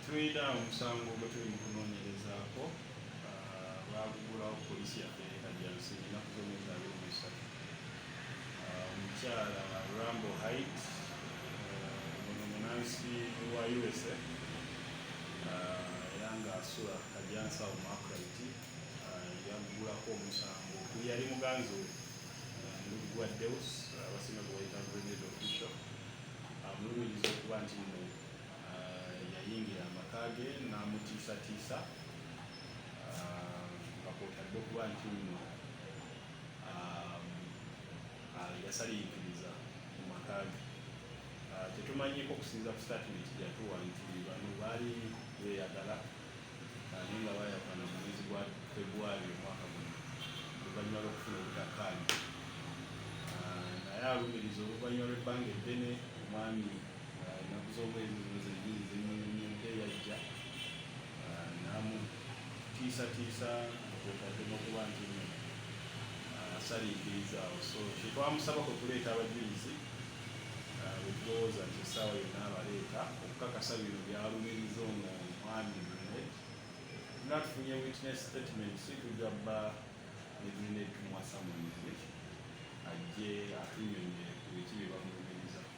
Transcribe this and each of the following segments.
Tulina omusango gwe tuli mu kunoonyerezaako, ah, baagugulawo poliisi yaffe eri Kajjansi ennaku z'omwezi abiri mu esatu. Ah, omukyala Rambo Hait ah, ono munansi wa USA era ng'asula Kajjansi awo mu Akuraiti yagugulako omusango okuli yali muganzi we mulugwa Deus abasinga gwe bayita Grenade Official amulumiriza okuba nti yayingira amaka ge n'amutiisatiisa nga kwotadde okuba nti nno yasaliikiriza mu maka ge tetumanyiko okusinza ku statimenti gyatuwa nti bano baali beeyagala naye nga bayakana mu mwezi gwa februari omwaka guno oluvannyuma lw'okufuna obutakkaanya naye alumiriza oluvannyuma lw'ebbanga eddene omwami ennaku z'omwezi zino zennyini zennyini ente yajja namutiisatiisa kwetaddemu okuba nti asaliikirizaawo so kyetwamusaba kwe kuleeta abajulizi wetulowooza nti essaawa yonna abaleeta okukakasa bino byalumiriza ono omwami mune nga tufunye witness statement si tujja bba netulinetumuwasa mu ajje atunyonye ku biki bye bamulumiriza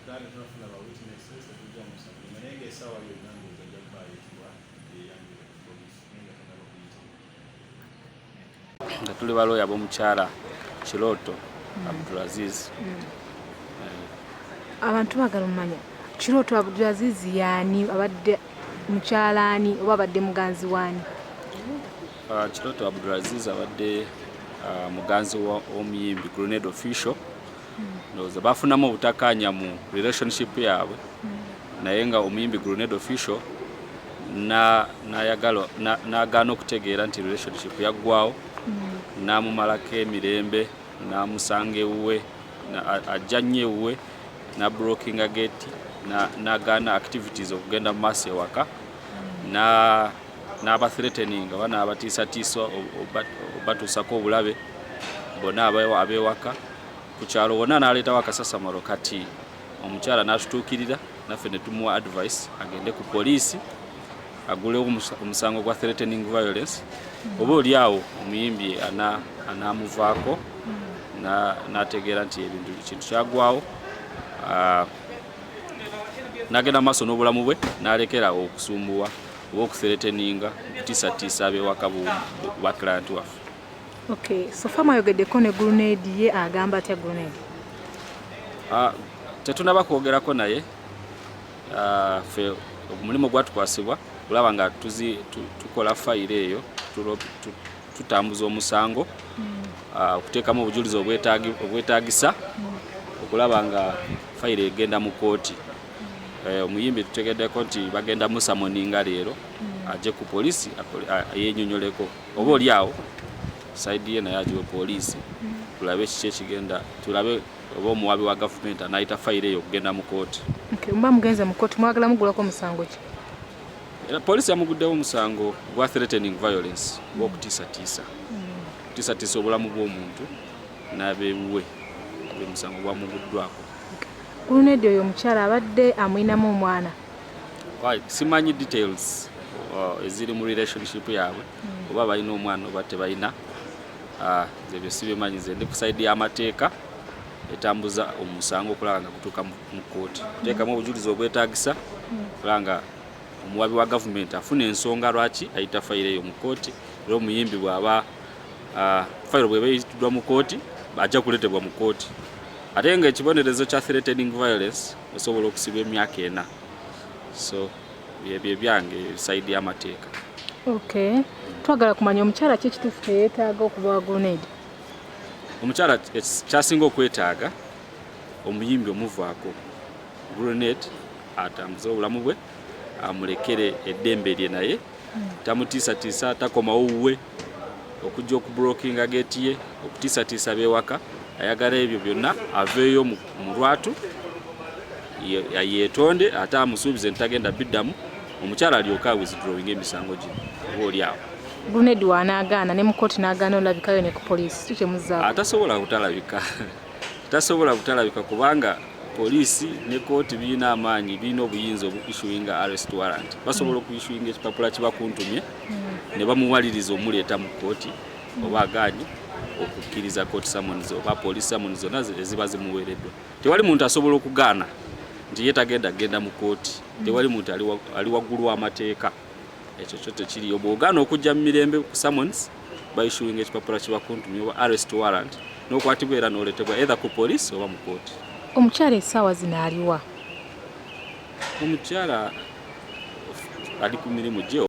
Uganda tunafuna ba witnesses tetujja musango naye nga esaawa yonna ndowooza ajja kubaayo ekibwa yeyanjula poliisi naye nga tanaba kuyita nga tuli balooya b'omukyala kirooto mm. abdulaziz mm. eh. abantu bagala omumanya kirooto abdulaziz yaani abadde mukyalaani oba abadde muganzi waani ah, kirooto abdulaziz abadde ah, muganzi w'omuyimbi grenade official ndowooza bafunamu obutakkaanya mu relationship yaabwe naye nga omuyimbi grenade official nayagala nagaana okutegeera nti relationship yaggwawo mm. namumalako emirembe namusanga ewuwe ajja nnyo ewuwe nabrokinga geti nagaana activities okugenda mu maaso ewaka mm. n'aba threatening oba n'abatiisatiisa obatuusako obulabe bona abewaka ku kyalo wonna n'aleetawo akasasamalo kati omukyala n'atutuukirira naffe ne tumuwa advice agende ku poliisi agulewo omusango gwa threatening violence oba oli awo omuyimbi anaamuvaako n'ategeera nti ebintu kintu kyagwawo ah, n'agenda mu maaso n'obulamu bwe n'alekerawo okusumbuwa oba okusereteninga okutisatiisa abewaka ba client waffe okay so fama ayogeddeko ne grenade ye agamba atya grenade ah, tetunaba kwogerako naye ah, fe omulimu gwatukwasibwa olaba nga tukola fayiro eyo tutambuza omusango hmm. ah, okuteekamu obujulizi obwetagisa hmm. okulaba nga fayiro egenda mu kooti eh, omuyimbi tutegeddeko nti bagenda musamoninga leero hmm. ajje ku poliisi yenyonyoleko oba oli awo saidi ye naye agiwe poliisi hmm. tulabe kiki ekigenda tulabe oba omuwabi wa gavumenti anayita fayiro eyo okugenda mu kooti mba mugenze mu kooti mwagala mugulako musango ki era poliisi yamuguddewo omusango gwa threatening violence gwokutiisatiisa hmm. okutiisatiisa obulamu bw'omuntu n'abewuwe omusango gwamuguddwako. Ku luno eddi oyo omukyala abadde amulinamu omwana? Simanyi details uh, eziri mu relationship yaabwe hmm. oba balina omwana oba tebalina uh, ebyo sibimanyi ze ndi ku saidi y'amateeka etambuza omusango okulaba nga gutuuka mu kkooti kuteekamu obujulizi obwetagisa hmm. okulaba nga omuwabi wa gavumenti afuna ensonga lwaki ayita fayiro eyo mu kkooti era omuyimbi bw'aba Ah, fayiro bweba eyitidwa mu kooti ajja kuletebwa mu kooti ate nga ekibonerezo kya threatening violence osobola okusibwa emyaka ena so byebyo ebyange ebisaidi yamateeka ok twagala kumanya omukyala ki ekituufu kyeyetaaga okuba wagonedi omukyala kyasinga okwetaaga omuyimbi omuvaako grenade atambuze obulamu bwe amulekere eddembe lye naye hmm. tamutiisatiisa takomawo wuwe okujja okubulokinga geeti ye okutiisatiisa beewaka ayagala ebyo byonna aveeyo mu lwatu yeetonde ate amusuubize nti tagenda biddamu omukyala alyoka withdrawing emisango gye oba oli awo gruned wanaagaana ne mukooti n'agaana olabikayo ne ku poliisi ki kyemuzaa atasobola kutalabika tasobola kutalabika kubanga poliisi ne kooti birina amaanyi birina obuyinza obuissuinga arrest warrant basobola okuissuinga ekipapula kibakuntumye ne bamuwaliriza omuleeta mu kkooti oba agaanyi okukkiriza kkooti samunizi oba poliisi samunizi zonna eziba zimuweereddwa tewali muntu asobola okugaana nti ye tagenda kugenda mu kkooti tewali muntu ali waggulu w'amateeka ekyo kyo tekiriyo bw'ogaana okujja mu mirembe ku samunizi baishuinga ekipapula kibakuntumya oba arrest warrant n'okwatibwa era n'oletebwa either ku poliisi oba mu kkooti omukyala essaawa zino aliwa Omukyala ali ku mirimu gye.